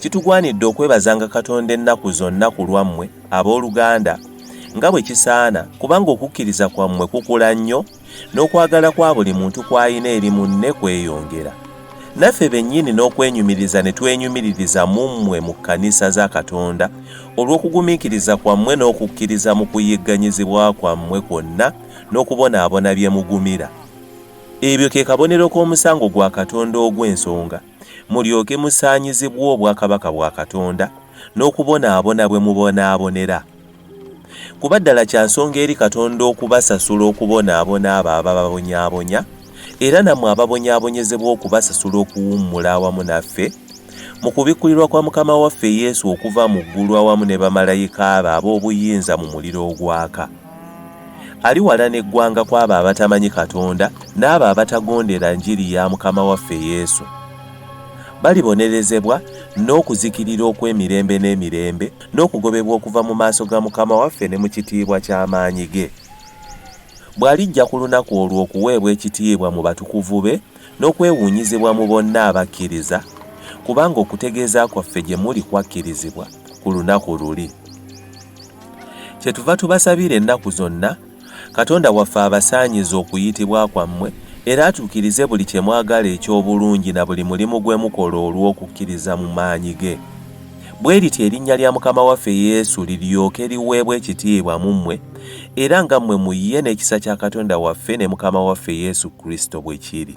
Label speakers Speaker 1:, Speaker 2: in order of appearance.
Speaker 1: Kitugwanidde okwebazanga Katonda ennaku zonna ku lwammwe, ab'oluganda, nga bwe kisaana, kubanga okukkiriza kwammwe kukula nnyo, n'okwagala kwa buli muntu kw'alina eri munne kweyongera. Naffe bennyini n'okwenyumiriza ne twenyumiririza mu mmwe mu kkanisa za Katonda, olw'okugumiikiriza kwammwe n'okukkiriza mu kuyigganyizibwa kwammwe kwonna n'okubonaabona bye mugumira. Ebyo ke kabonero k'omusango gwa Katonda ogw'ensonga. mulyoke musaanyizibwe obwakabaka bwa Katonda n'okubonaabona bwe mubonaabonera. Kuba ddala kya nsonga eri Katonda okubasasula okubonaabona abo abababonyaabonya, era nammwe ababonyaabonyezebwa okubasasula okuwummula awamu naffe mu kubikkulirwa kwa Mukama waffe Yesu okuva mu ggulu awamu ne bamalayika be ab'obuyinza mu muliro ogwaka. Ali wala n'eggwanga kw'abo abatamanyi Katonda n'abo abatagondera njiri ya Mukama waffe Yesu. Balibonerezebwa n'okuzikirira okw'emirembe n'emirembe n'okugobebwa okuva mu maaso ga Mukama waffe ne mu kitiibwa ky'amaanyi ge. Bw'alijja ku lunaku olwo okuweebwa ekitiibwa mu batukuvu be n'okwewuunyizibwa mu bonna abakkiriza, kubanga okutegeeza kwaffe gye muli kwakkirizibwa ku lunaku luli. Kyetuva tubasabira ennaku zonna, Katonda waffe abasaanyize okuyitibwa kwammwe, era atuukirize buli kye mwagala eky'obulungi na buli mulimu gwe mukola olw'okukkiriza mu maanyi ge. Bwe lityo erinnya lya Mukama waffe Yesu liryoke liweebwe ekitiibwa mu mmwe, era nga mmwe mu ye n'ekisa kya Katonda waffe ne Mukama waffe Yesu Kristo bwe kiri.